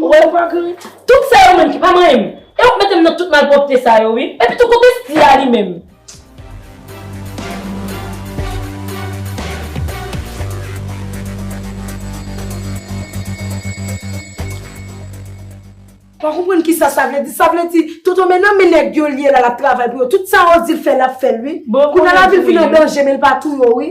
Ou wè yo pa gri? Tout sa yo menm ki pa manyen m. E wap mete m nan tout malpwopte sa yo wi. Epi tou kote Sty a li menm? Pa konprann kisa sa vle di. Sa vle di Tonton Men nan men nèg yo li ye la lap travay pou yo. Tout sa yo di l fè lap fè l wi. Kounye a la vil vin an danje men l pa tou yo wi.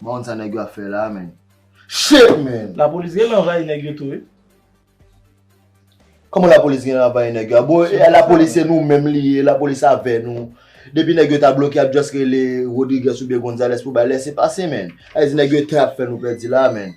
M pa konn sa nèg yo ap fè la men. Shit man! Lapolis genlè anvayi nèg yo tou wi. Kòman lapolis genlè anvayi nèg yo a? Bon e lapolis se nou menm li ye, lapolis avè nou. Depi nèg yo ta bloke y ap just rele Rodrigues oubyen Gonzales pou bay lese pase man. Sa vle di nèg yo tè ap fè nou pèdi la a man.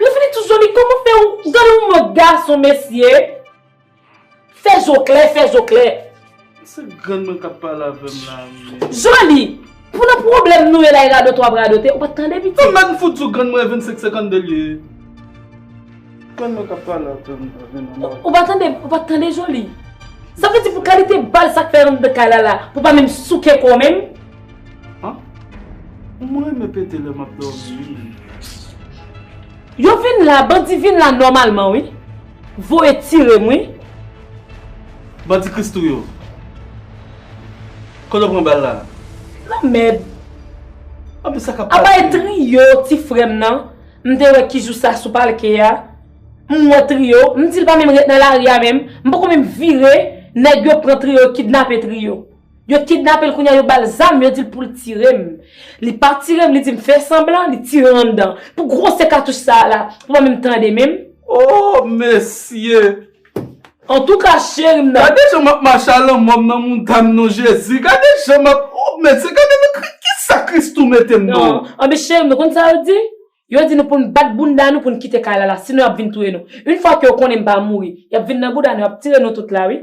Yo fini tou zo li koko fè ou gade yon mòd gason mesye fè zo klè fè zo klè. Se grann mwen kap pale avèm la ui. Zo li pou nan pwoblèm nou ye la e radote wap radote ou pat tande piti. Ou menm m fout di w grann mwen 25 52 l ye. Grann mwen kap pale avèm la vin nan mòd. Ou pa tande ou pat tande zo li. Sa vle di pou kalite bal sak fè anndan kay la la pou pa menm souke kòw menm. An mwen renmen pete lè map domi wi menn. Yo vin la bandi vin la nòmalman wi voye tire m wi. Bandi christoo yo. Kote w pran bal la. Lanmèd. Anpil sa kap pase. Apa e trio ti frè m nan m te wè ki jou sa sou palke a m wè trio m di l pa menm ret nan lari a menm m poko menm vire nèg yo pran trio kidnape trio. Yo kidnape l kounye a yo ba l zam yo di l pou l tire m. Li pa tire m li di m fè sanblan li tire m anndan. Pou gwosè katouch sa a la pou mwen menm tande menm. Ooh mesye. Antouka cheri m nan. Gade jan m ap mache a lanmò m nan montàn non Jezi. Gade jan m ap ooh mesye gade nan kri kisa Christoo mete m non. Anben cheri m nou konn sa yo di? Yo di nou pou n bat bounda nou pou n kite kay la la sinon y ap vin touye nou. Yn fwa ke yo konnen m pa mouri y ap vin nan bouda nou y ap tire nou tout la wi.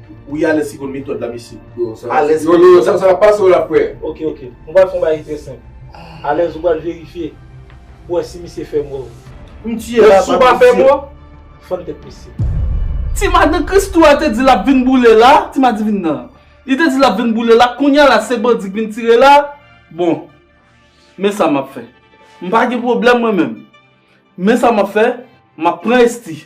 Ou ye alèz si konn metòd la mesye? Yo, sa va Alèz Yo, yo, sa va pase w la frè. Ok, ok. Nou pral fè yon bagay ki trè senp. Alèz ou pral verifye pou wè si misye fè mò. M tiye la, Si w pa fè mò? Fann tèt misye. Ti madan Christoo a te di lap vin boule la, ti madivin nan. Li te di lap vin boule la, kounya la se bandi k vin tire la, bon Men sa map fè. M pa gen pwoblèm mwen menm. Men sa map fè, map pran Esthie.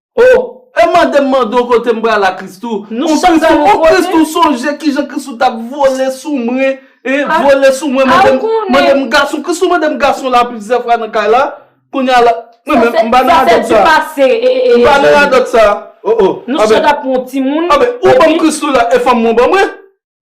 Oh! E mande m mande w kote m pral a Christoo? Nou chak pral yon kote. Oh Christoo sonje kijan Christoo t ap vole sou mwen, hein, vole sou mwen mande m, mande m gason, Christoo mande m gason la plizyè fwa nan kay la, kounye a la, mwen menm m pa nan radòt sa. Sa se du passé, eh eh eh. M pa nan radòt sa. Oh oh. Nou chak ap pran yon timoun. Anben, ou ban m Christoo la e fanm mwen ban mwen?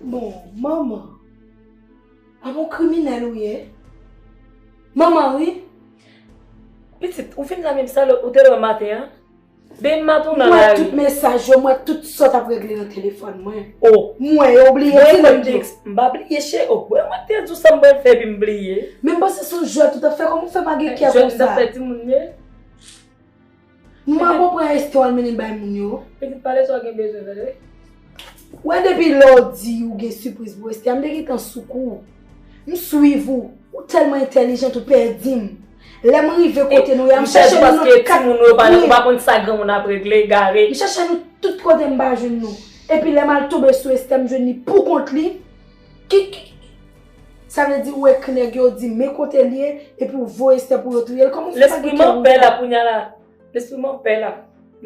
Bon, manman, a bon kriminèl ou ye? Manman wi! Pitit, ou vin la menm sa ou te la maten an? Babe map ou nan la ri. Mwen tout mesaj yo mwen tout sot ap regle nan telefon mwen. Oh. Mwen yo bliye ti lèm di. M pa bliye cheri oh mwen mwen te di w sa m pral fè epi m bliye. Men m panse son jwèt ou tap fè kòman w fè pa gen kè konsa. Jwèt m tap fè ti moun ye. M pa konpran eske w al mennen l bay moun yo. Pitit pale sa w gen bezwen tande. Wè depi lè w di ou gen sipriz pou Esthie a m te gentan sou kou. M swiv ou. Ou telman entelijant ou pedim. Lè m rive kote nou ya m chache nou nan tout kat kwen. Ou pa konn sa granmoun ap regle egare. M chache nou tout kote m pa jwenn nou. Epi lè m al tonbe sou Esther m jwenn li pou kont li. Kiki. Sa vle di ou ekri nèg yo ou di men kote li ye epi ou voye Esther pou yo touye l kòman ou fè sa gen kè ouvè. Lespri m ap pè la kounya la. Lespri m ap pè la.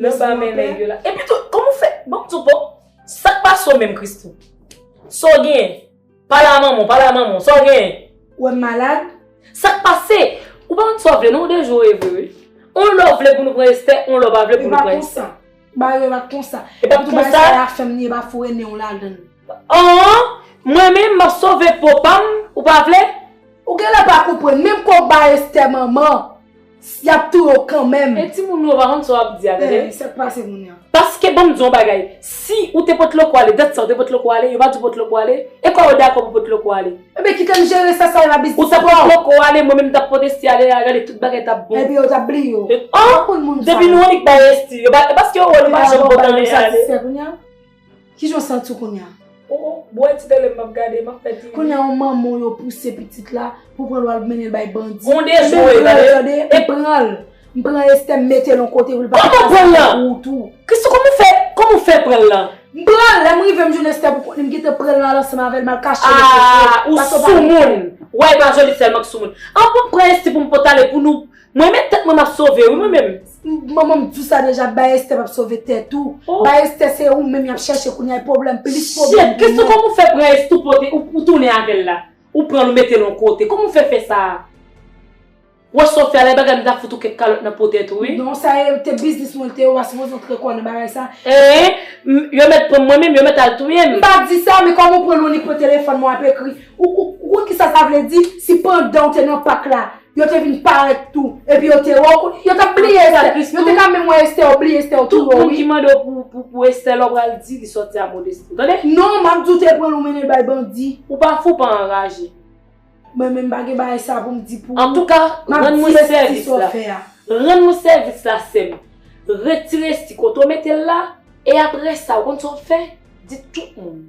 Lè w pa men nèg yo la. Epitou kòman ou fè. Bon m di w bon. Sa k pa so menm Christoo. Sa w gen. Pala manman, pala manman, sa w genyen? Ou wè m malad? Sa k pase? Ou pa konn sa w vle non, ou dejoure vre wi. On lè w vle pou nou pran Estè, on lè w pa vle pou nou pran Estè. E pa konsa. Ba yo e pa konsa. E pa konsa. Tout bagay sa y ap fè m ni e pa foure nen w ladan l. An! Mwen menm m ap sove po pa m, ou pa vle? Ou genlè pa konprann, menm kò w ba Estè manman. Yap touye w kanmenm. E timoun yo pa konn sa wap di a tande. Eeh sak pase moun yo. Paske banm di yon bagay si ou te pot loko ale dat sa ou te pot loko ale yo pa di w pot loko ale e kò yo dakò pou pot loko ale. Ebyen kitem jere sa sa epa biznis pam. Ou ta pot loko ale mwen menm tap poteste ale a gade tout bagay tap bon. Ebyen yo tap bliye w. Depi nou annik bay esti yo pa paske yo wè nou pa janm pot anyen ale. Kijan w santi w kounya? Oh oh, bwè ti tele m map gade, map fè TV. Kounya yon manman w yo pouse pitit la pou pran l wal mennen l bay bandi. Gon dejwe tande. E pran l. M pran Esther m mete l yon kote pou l pa fè sa pou ou tou. Christoo kòman w fè, kòman w fè pran l lan? M pran l, lèm rive m jwenn Esther pou kont li m kite pran l lan al ansanm avè l mal kache l epi m sot. Ahh ou soumoun. Wè epa Joly sèlman k soumoun. An bon m pran Esthie pou m pot ale pou nou Mwen met tèt mwen map sove wi mwen menm. Manman m t di sa deja bay estè map sove tèt ou bay estè se ou menm yap chèche kounya e pwoblèm plis pwoblèm pou mwen. Shit Christoo kòman ou fè pran estou pote ou tounen avèl la ou pranl ou metel on kote kòman ou fè fè sa a wè sa w fè a lè bagay m ta fout ou kèk kalòt nan po tèt ou wi. Non sa e te biznis mwen te ou pa sipoze w tre kò nan bagay sa. Eeh m yo mèt pranm mwen menm yo mèt al touye m. M pa di sa men kòman ou pran non li pran telefòn mwen wap ekri ou konn kisa sa vle di si pandan w te nan pak la Yo te vin parèt tou. Epi yo te wè w kou. Yo t ap bliye Esther. Anplis tou. Yo te ka menm wè Esther yo bliye Esther yo tou wè w wi. Tout moun ki mande w pou Esther la w pral di li sòti a Modesty. Ou tande? Non, m ap di w te pran l ou mennen l bay bandi. Ou pa fou, pa anraje. Mwen menm m pa gen bagay sa pou m di pou ou. Antouka, rann mwen sèvis la. M ap di Esther sa w fè a. Rann mwen sèvis la sè m. Retire esti kote w mete l la. E aprè sa, ou konn sa w fè? Di tout moun.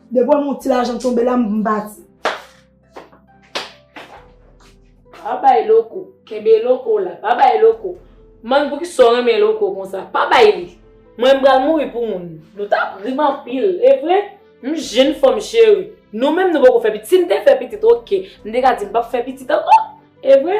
De bon moun ti lajan tonbe la m pati. Pa bay loko. Kenbe loko la. Pa bay loko. Man pou ki son renmen loko kon sa. Pa bay li. Mwen m bral mouri pou moun. Nou ta prim anpil. E vre? M jinn fanm cheri. Nou menm nou poko fè pitit. Si m te fè pitit ok. M de ka di m pap fè pitit anko. E vre?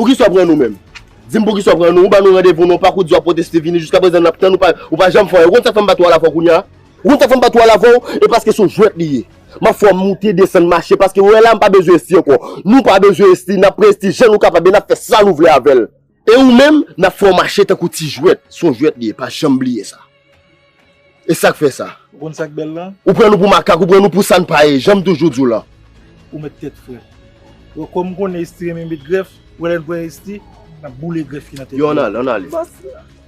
Poukisa w pran nou menm? Di m poukisa w pran nou? Ou ban nou randevou nan pak ou di w ap pwoteste vini jiska prezan n ap tann ou pa janm fè anyen. Ou konn sa k fè m bat ou alavò kounye a? Ou konn sa k fè m bat ou alavò? E paske se yon jwèt li ye. M ap fè w moute desann mache paske ou wè la m pa bezwen esti ankò. Nou pa bezwen esti, n ap pran esti jan nou kapab e n ap fè sa nou vle avè l. E ou menm nap fè w mache tankou ti jwèt, son jwèt li ye pa janm bliye sa. E sak fè sa? Ou konn sak bèl lan? Ou pran nou pou makak, ou pran nou pou sann pa ye, janm toujou di w lan. Ou mèt tèt frèt. Bon kòm m konnen Esthie renmen met grèf, ou wè lè n pran Esthie, nap boule grèf ki nan tèt li an. Yon ale, yon ale.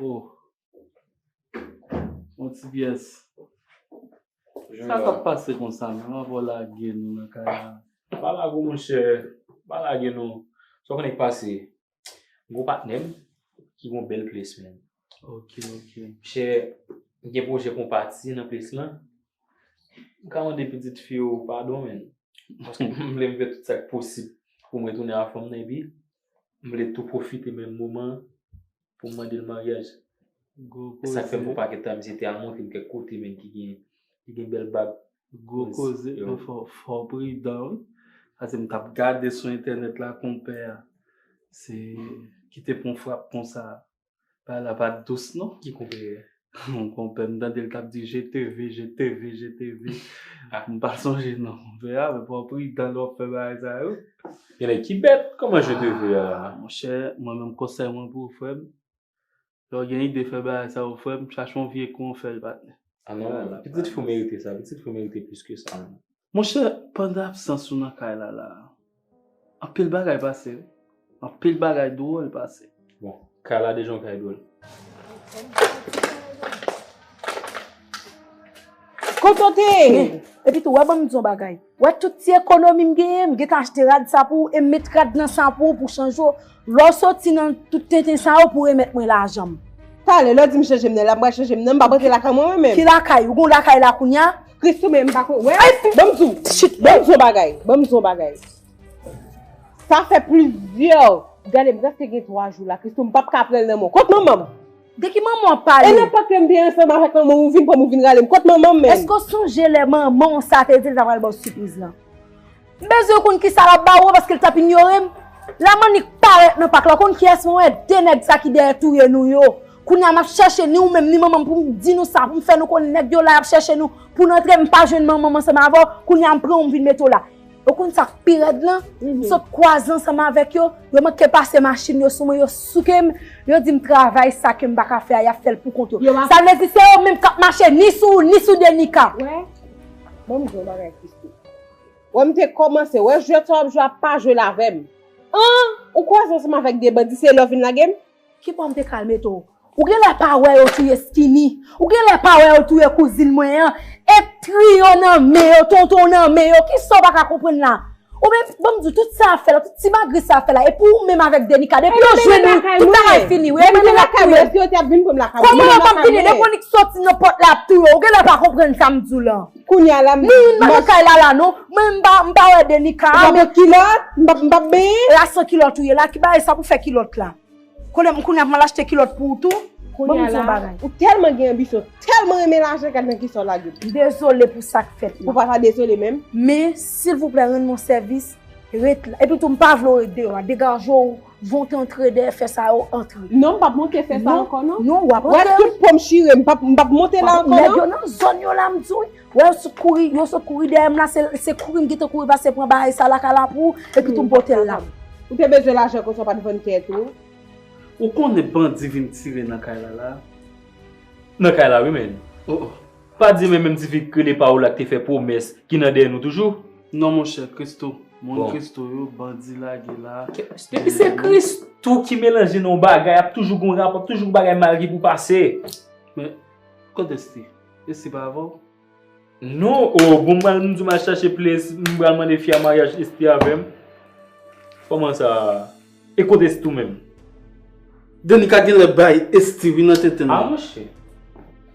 Oh. Mon ti pyès. Sa ka pase kon sa, mwen an vò lage nou nan kay la. Pa lage mwen chè, pa lage nou. Sa konen k pase, gwo patnèm ki gwo bèl ples men. Ok, ok. Chè, gen pwojè pou pati nan ples lan. M ka mande pitit fi ou padon men. Paske m vle m fè tout sa k posib pou mwen tounen avèk fanm nan epi. M vle tou pwofite menm moman an pou m mande l maryaj. Gwo koze. Sa k fè m pran pakèt tan misye te al montre m kèk kote menm ki gen ki gen bèl bag. Gwo koze. Yo fò fò w pridan wi. Pase m t ap gade sou entènèt la konpè a se ki te pran frap konsa. Bagay la pa dous non. Ki konpè? Yon konpè m tande l k ap di je te ve, je te ve, je te ve. M pa sonje non konpè a men pran pridan lè w ap fè bagay sa yo. Gen nèg ki bèt, kòman je te ve a? Monchè, mwen menm konsèy mwen pou ou frè m, lè w gen ide fè bagay sa yo frè m, chache yon vye kou w fè l patnè. A non, pitit fi w merite sa, pitit fi w merite plis ke sa. Monchè pandan absans ou nan kay la la a, anpil bagay pase wi, anpil bagay dwòl pase. Bon, kay la deja yon kay dwòl. Kontante! Epi tou, wè ban m di w yon bagay, wè tout ti ekonomi m genyen, m gen tan achte rad sa pou ou e m met rad nan sa pou ou pou w chanje yo. Lè w soti nan tout tenten sa yo pou w remèt mwen lajan m. Talè, lè w di m chanje m nan, lè m pral chanje m nan, m pa p rantre lakay mwen mwen menm. Ki lakay? Ou gen yon lakay la kounya? Christoo men m pa konn wè a si banm di w Chut banm di w yon bagay banm di w yon bagay sa fè plizyè gade m preske gen 3 jou la Christoo m pap ka pran l nan men w kot manman m De ki manman w ap pale? E nenpòt lè m te ansanm avèk manman w ou vin pran m ou vin rale m kot manman m menm? Èske w sonje lè manman w sa te di l ta pral ba w sipriz lan? M bezwen konn kisa lap ba ou an paske l tap inyore m. La Manik parèt nan pak la, ou konn kiyès mwen wè? De nèg sa ki dèyè touye nou yo. Kounya m ap chèche ni ou menm ni manman m pou m di nou sa, pou m fè nou konn nèg yo la y ap chèche nou pou n antre m pa jwenn manman m ansanm avè w, kounya m pran ou m vin mete w la. E w konn sa k pi rèd lan? M sot kwaze ansanm avèk yo, yo manke pase machin yo sou mwen, yo souke m, yo di m travay sa ke m pa ka fè a y ap fè l pou kont yo. Sa vle di se yo menm k ap mache ni sou ou ni sou Denica. Wè, ban m di w yon bagay Christoo. Wè m te komanse wè jwèt sa wap jwe a pa jwel avèm anh ou kwaze ansanm avèk 2 bandi se lè w vin lagem. Ki pwa m te kal mete w. Ou genlè pa wè yo touye skinny ou genlè pa wè yo touye kouzin mwen an et trio nan men yo tonton nan men yo kisa w paka konprann la ou menm banm diw tout sa ap fè la tout ti magri sa ap fè la epi ou menm avèk Denica depi yo jwenn ou tout bagay fini wi epi yo ap touye l koman yo pap vini depi Onik soti nan pòt la yap touye w ou genlè pa konprann sa m diw lan. Kounye a la m Mwen menm m pa nan kay lala non Mwen m pa m pa wè Denica a Ou pa met kilòt? M pa m pa benyen? E a san kilòt ou ye la? Ki bagay sa pou fè kilòt la? Koulye m kounye a pou m al achte kilòt pou ou tou? Kounye a la Ban m di yon bagay. Ou tèlman gen anbisyon ou tèlman renmen lajan gad nan kisa w lage l. M dezole pou sa k fèt la. Ou pa ta dezole menm. Men silvouplè rann mwen sèvis ret la. Epitou m pa vle w ret deyò a degaje w. Vote antre dèyè fè sa yo antre. Non m pap monte fè sa ankò non. Non wap antre wi. Wè tout pom chire m pap m pap monte la ankò non. Nèg yo nan zòn yo la m di w wi. Wè yo sot kouri yo sot kouri dèyè m la se kouri m gentan kouri pase pran bagay sa la kala pou epi tou m pote l la. Ou te bezwen lajan konsa w pat vann tèt ou. Ou konnen bandi vin tire nan kay la la. Nan kay la wi men. Oh oh. Pa di men menm ti fi k rele Paola k te fè pwomès ki nan dèyè nou toujou. Non monchè christoo moun christoo yo bandi lage la. Depi se christoo ki melanje nan yon bagay ap toujou gen yon rapò ap toujou gen bagay mal ki pou pase. Men kot Esthie? Esthie pa avèw? Non oo bon mal m di mal chache plezi m pral mande fi a maryaj Esthie avèm kòman sa e kot Esthie tou menm? Danica genlè bay Esthie wi nan tenten nan. A monchè.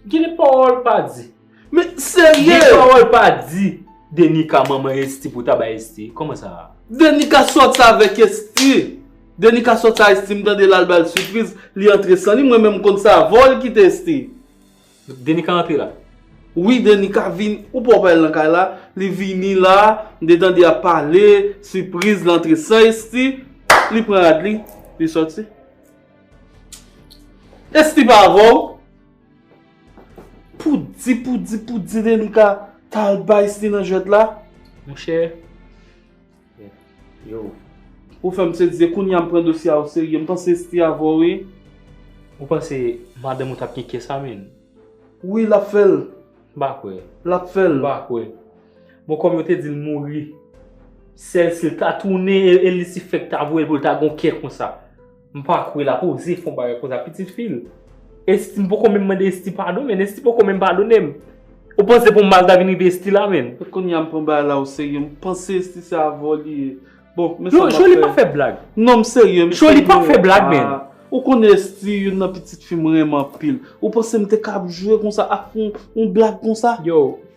Genlè pawòl pa di. Men serye. Gen pawol pa di. Denika manman Esthie pou ta bay Esthie. Koman sa a. Denika sòt sa avèk Esthie. Denika sòt sa Esthie m tande lal bal sipriz li antre san li mwen menm m konn sa avan li kite Esthie. Denika antre la. Wi Denika vin ou pa wè pa el nan kay la li vini la m te tande yap pale sipriz li antre san Esthie li pran rad li li sòti. Esthie pa avèw. Pou di pou di pou di Denika ta al bay sli nan jwèt la. Monchè. Yo. Ou fèm se di e kounye a m pran dosye a o serye m panse sli avè w wi. Ou panse madanm ou tap gen kè sa menn. Wi lap fèl. M pa kwè. Lap fèl. M pa kwè. Bon kòm yo te di l mouri. Sèl si l ta tounen e li si fèk ta voye l pou l ta gon kè konsa. M pa kwe lap oze fon bagay konsa pitit fil. Esthie m poko menm mande Esthie padon menn Esthie poko menm padonem. Ou panse pou mal ta vin rive Esthie la menn. E kounya m pran bagay la o serye m panse Esthie se avò li ye. Bon men sa map fè. Joly pa fè blag. Non m serye m serye. Joly pa fè blag menn. Ou konnen Esthie youn nan pitit fi m renmen anpil. Ou panse m te kab jwe konsa ak yon blag konsa. Yo.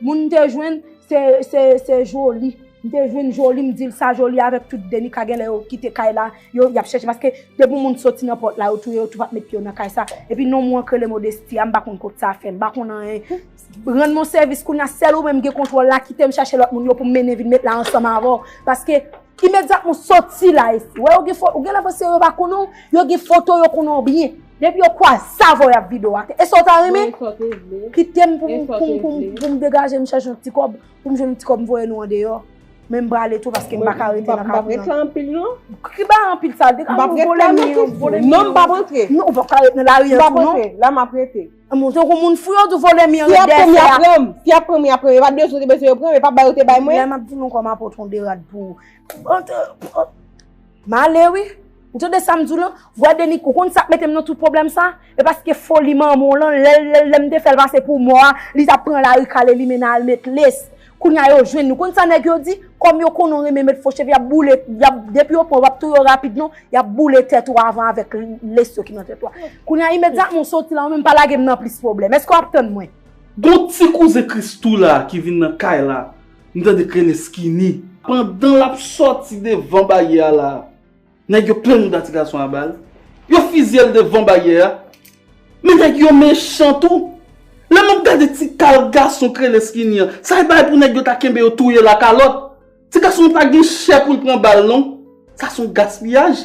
Moun m te jwenn se Joly. M te jwenn Joly m di l sa Joly avèk tout Denica genlè yo kite kay la yo ap chèche paske depi moun soti nan pòt la yo touye yo tou pa met pye yo nan kay sa epi nonm ou an k rele Modesty a m pa konn kot sa fè m pa konn anyen rann m on sèvis kounye a sèl ou menm gen kontwòl la kite m chache lòt moun yo pou m mennen vin met la ansanm avè w paske imedyatman w soti la ou genlè panse yo pa konnen w yo gen foto w yo konnen w byen. Depi yo kwa zave w yap video ate. E sa w ta renmen? Kite m pou m degaje m chache yon ti kob. Pou m jwenn yon ti kob m voye nou andeyo. Men m brale tou paske m pa ka rete nan kafou. M pa prete sa anpil non. Ki ba anpil sa? M pa prete sa anpil non. Non m pa prete. Non m pa prete nan la ri an tou non. M pa prete. La m pa prete. M montre kou moun fou yo tou vole mi an. Si ap pran m ya pran m. Si ap pran m ya pran m. E pa de sou de bese yo pran m. E pa bayo te bay mwen. M ap di nou kwa m ap pote yon de rad pou. M ale wi. M tande sa m di w lan. Vwa Denik ou konn sa k mete m nan tout pwoblèm sa? E paske foli manman w lan lè l lè m te fè l pase pou mò a li t ap pran lari kale li mennen al met les. Kounye a yo jwenn li. Ou konn sa nèg yo di? Kòm yo konnen w renmen met fo cheve y ap boule y ap depi yo pran w pa p touye w rapid non y ap boule tèt ou avan avèk les yo ki nan tèt ou a. Kounye a imedyatman w soti la ou menm pa lage m nan plis pwoblèm. Èske w ap tann mwen? Gon ti kouzen Christoo la ki vin nan kay la. M tande krene skinny. Pandan l ap sòti devan baryè a la a, nèg yo plen mouda ti gason a bal, yo fizye l devan baryè a. Men nèg yo mechan tou. Lè m ap gade ti kal gason krene skinny an, sa e bagay pou nèg yo ta kenbe yo touye l a kalòt. Ti gason an pa gen chè pou l pran bal non. Sa s on gaspiyaj.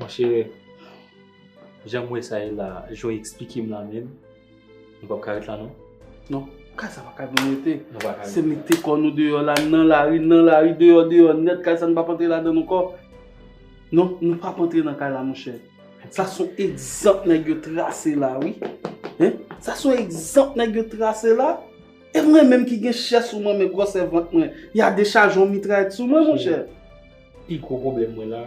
Mon chè, jan m wè sa ye la, jan w esplike m la menm, nou pap ka ret la non? Non, kay sa pa kay pou nou rete. Nou pa ka rete. Se mete kò nou deyò la, nan lari, nan lari, deyò, deyò nèt, kay sa nou pap antre ladann ankò. Non, nou pap antre nan kay la mon chè. Sa son egzanp nèg yo trase la wi. Hein? Sa son egzanp nèg yo trase la. E mwen menm ki gen chè sou mwen men gwòsè vant mwen, ya dechaje yon mitrayèt sou mwen monchè. Pi gwo pwoblèm mwen la,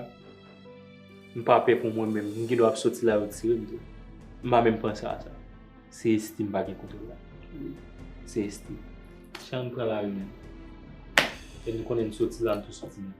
m pa pè pou mwen menm, m gen dwa ap soti la yo tire m tou. M pa menm panse a sa. Se Esthie m pa gen kontwòl la. Se Esthie. Jan m pran lari menm. E m konnen m soti la m tou soti menm.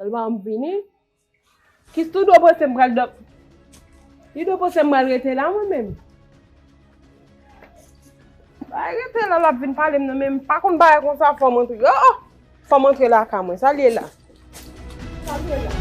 Alman m vini. Kis tou dwe panse m pral dòm. Li dwe panse m pral rete la mwen menm. Bay rete la lap vin pale m nan menm. Pa konn bay konsa fò m antre. Oh! Fò m antre la ka mwen. Sa li ye la? Sa li ye la?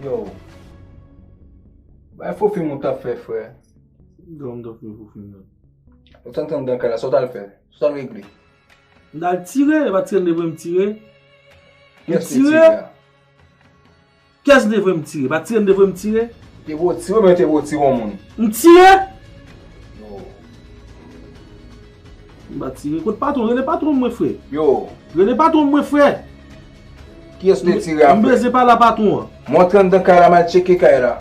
Yow Bay fo film ou tap fè frè. Ki dram ou tap fè fo film nan? Ou te antann dan kay la sa ou tal fè? Sa ou tal regle? M tal tire, yo pa tire m depi m tire. M tire! Kiyès m te voye m tire? Pa tire m te voye m tire? Te voye w tire oubyen yo te voye w tire yon moun? M tire? Yo. M pa tire. Kot patwon m? Rele patwon m mwen frè. Yo. Rele patwon m mwen frè. Kiyès ou te tire a frè? M bezwen pale a patwon an. Mwen antre anndan kay la m al tcheke kay la.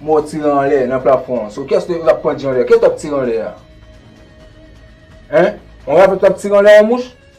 M wè w tire anlè nan plafon an. So kiyès ou tap pandje anlè? Kiyès ou tap tire anlè a? Hein? Yon rapè ou tap tire anlè yon mouche?